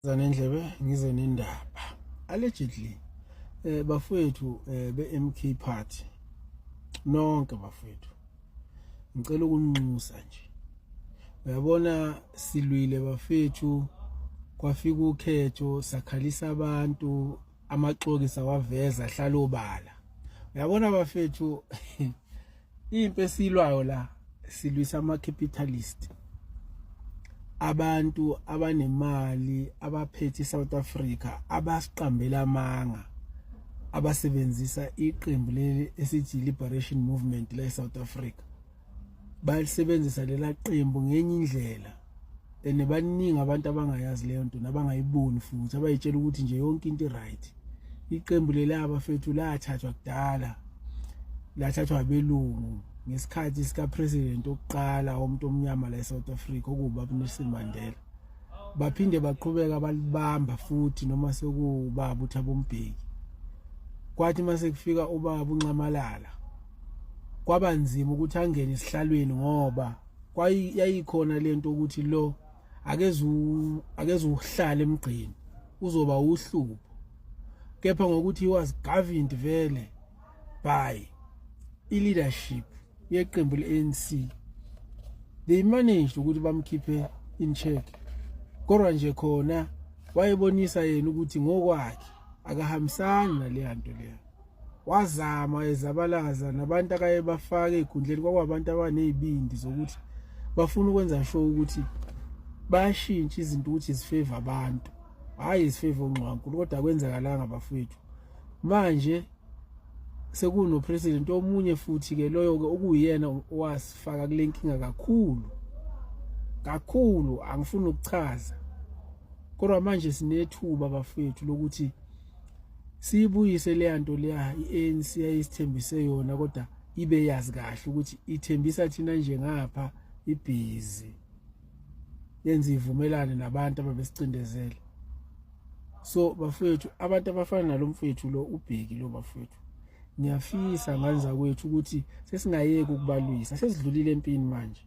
zanendlebe ngize nendaba allegedly eh bafowethu eh, be MK party nonke bafowethu ngicela ukunxusa nje uyabona silwile bafethu kwafika ukhetho sakhalisa abantu amaxoki sawaveza ahlala obala uyabona bafethu impi esilwayo la silwisa ama capitalist abantu abanemali abaphethe iSouth Africa abasiqambela amanga abasebenzisa iqembu leli esithi Liberation Movement la eSouth Africa bayalisebenzisa lela qembu ngenye indlela and baningi abantu abangayazi leyo nto nabangayiboni futhi abayitshela ukuthi nje yonke into i-right iqembu leli abafethu lathathwa kudala lathathwa abelungu ngesikhathi sikapresident okuqala womuntu omnyama la eSouth Africa okuba uNelson Mandela baphinde baqhubeka balibamba futhi noma sekubaba uThabo Mbeki kwathi mase kufika ubaba uNxamalala kwaba nzima ukuthi angene esihlalweni ngoba kwayayikhona lento ukuthi lo akezu akezu uhlale emgqini uzoba uhlubo kepha ngokuthi was governed vele by i leadership yeqembu leANC they managed ukuthi bamkhiphe in check kodwa nje khona wayebonisa yena ukuthi ngokwakhe akahambisani naleya nto leyo wazama ezabalaza nabantu akaye bafake ezikhundleni kwakwabantu abanezibindi zokuthi bafuna ukwenza sho ukuthi bayashintsha izinto ukuthi zifeva abantu hayi zifeva ungqwankulu kodwa kwenzakalanga bafethu manje sekuno president omunye futhi ke loyo ke okuyena wasifaka kule nkinga kakhulu kakhulu angifuni ukuchaza kodwa manje sinethuba bafethu lokuthi siyibuyise leya nto leya i-anc yayisithembise yona kodwa ibe yazi kahle ukuthi ithembisa thina nje ngapha ibhizi yenza ivumelane nabantu ababesicindezele so bafowethu abantu abafana nalo mfowethu lo ubheki lo bafowethu ngiyafisa ngani zakwethu ukuthi sesingayeki ukubalwisa sesidlulile empini manje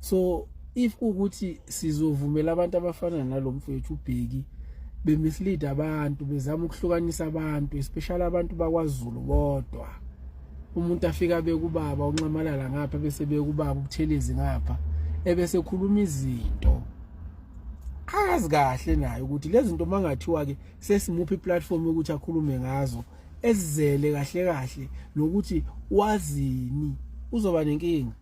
so if kuwukuthi sizovumela abantu abafana nalo mfowethu ubheki bemislead abantu bezama ukuhlukanisa abantu especially abantu bakwaZulu bodwa umuntu afika bekubaba unxamalala ngapha bese bekubaba ubuthelezi ngapha ebese khuluma izinto azi kahle naye ukuthi lezi zinto mangathiwa ke sesimuphi iplatform ukuthi akhulume ngazo ezizele kahle kahle nokuthi wazini uzoba nenkinga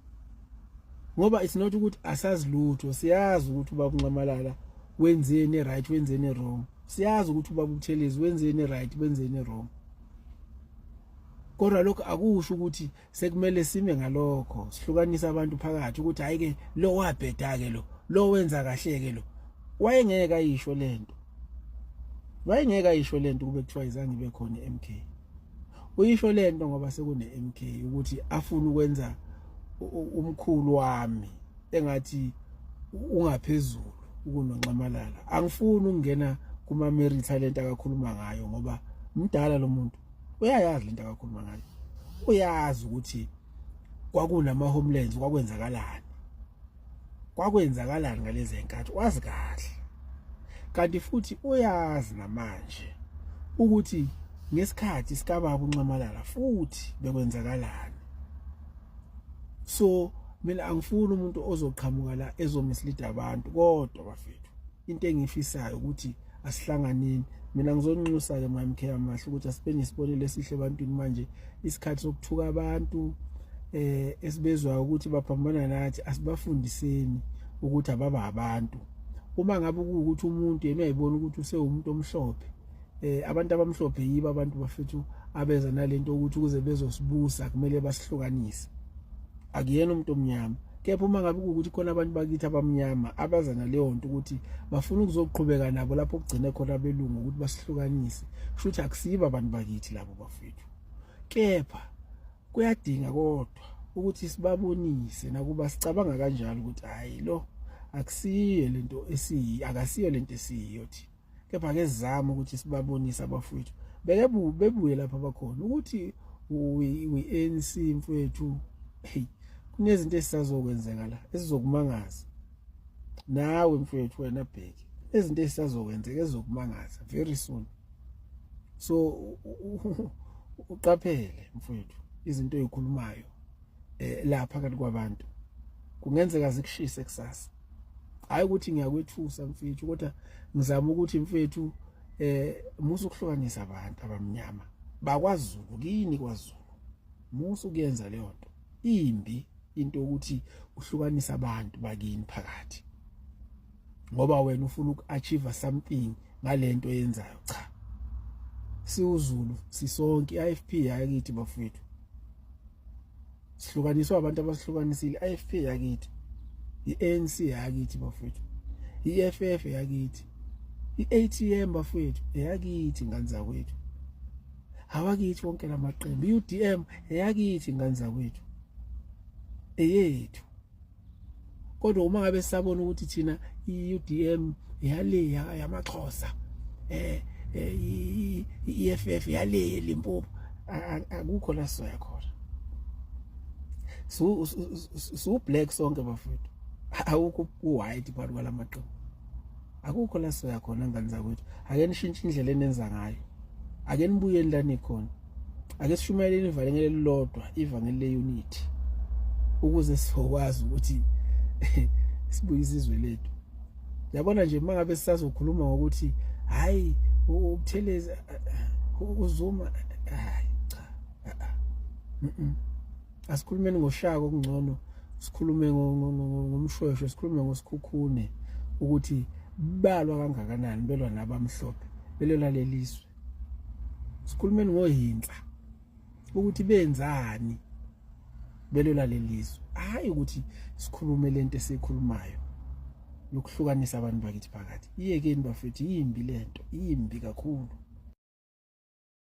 ngoba it's not ukuthi asazi lutho siyazi ukuthi uba kunxamalala wenzeni right wenzeni wrong siyazi ukuthi uba kuthelezi wenzeni right wenzeni wrong kodwa lokho akusho ukuthi sekumele sime ngalokho sihlukanisa abantu phakathi ukuthi hayi ke lo wabheda ke lo lo wenza kahle ke lo wayengeke ayisho lento wayengeke ayisho lento kube kuthiwa izange ibe khona eMK uyisho lento ngoba sekune MK ukuthi afuna ukwenza umkhulu wami engathi ungaphezulu ukunonxamalala angifuni ukungena kuma Mary talent akakhuluma ngayo ngoba mdala lo muntu uyayazi lento akakhuluma ngayo uyazi ukuthi kwakunama homelands kwakwenzakalani kwakwenzakalani ngalezi nkathi wazi kahle kanti futhi uyazi namanje ukuthi ngesikhathi sikababa unxamalala futhi bekwenzakalani so mina angifuni umuntu ozoqhamuka la ezomislida abantu kodwa bafethu into engifisayo ukuthi asihlanganini mina ngizonxusa ke my mkhe amahle ukuthi asibe nesibonelo esihle ebantwini manje isikhathi sokuthuka abantu eh esibezwa ukuthi baphambana nathi asibafundiseni ukuthi ababa abantu uma ngabe ukuthi umuntu yena uyayibona ukuthi usewumuntu omhlophe eh abantu abamhlophe yibo abantu bafethu abeza nalento ukuthi ukuze bezosibusa kumele basihlukanise akuyena umuntu omnyama kepha uma ngabe kuwukuthi khona abantu bakithi abamnyama abaza naleyo nto ukuthi bafuna ukuzoqhubeka nabo lapho kugcine khona abelungu ukuthi basihlukanise kusho ukuthi akusibo abantu bakithi labo bafethu kepha kuyadinga kodwa ukuthi sibabonise nakuba sicabanga kanjalo ukuthi hayi lo akusiyo lento esiyi akasiyo lento esiyiyo thina kepha ke sizama ukuthi sibabonise abafowethu beke bebuye lapha bakhona ukuthi we ANC mfowethu hey kunezinto esisazokwenzeka la esizokumangaza nawe mfowethu wena bheki ezinto esisazokwenzeka ezokumangaza very soon so uqaphele mfowethu izinto ezikhulumayo eh, lapha kanti kwabantu kungenzeka zikushise kusasa hayi ukuthi ngiyakwethusa mfethu kodwa ngizama ukuthi mfethu eh musa ukuhlukanisa abantu abamnyama bakwaZulu kini kwaZulu musa ukuyenza leyo nto imbi into yokuthi uhlukanisa abantu bakini phakathi ngoba wena ufuna ukuachieve something ngalento yenzayo cha siwuzulu sisonke iFP hayi kithi bafethu sihlukaniswa abantu abasihlukanisile IFP yakithi iANC yakithi bafethu iFF yakithi iATM bafethu eyakithi ngane zakwethu awakithi wonke lamaqembu iUDM eyakithi ngane zakwethu eyethu kodwa uma ngabe sabona ukuthi thina iUDM yale yamaXhosa eh, eh iEFF yale eLimpopo akukho la soya khona so so black sonke bafethu awukho white phakathi kwalamaqembu akukho la soya khona ngane zakwethu ake nishintshe indlela enenza ngayo ake nibuyeni la nikhona ake sishumayeleni ivangeli elilodwa ivangeli leunity ukuze sizokwazi ukuthi sibuye izizwe lethu yabona nje mangabe sisazokhuluma ngokuthi hayi ukutheleza uzuma hayi cha asikhulumeni ngoshaka okungcono sikhulume ngomshweshwe sikhulume ngosikhukhune ukuthi balwa kangakanani belwa nabamhlophe belwela lelizwe sikhulumeni ngohinsa ukuthi benzani belwela lelizwe hayi ukuthi sikhulume lento esikhulumayo yokuhlukanisa abantu bakithi phakathi iyekeni bafethu yimbi lento yimbi kakhulu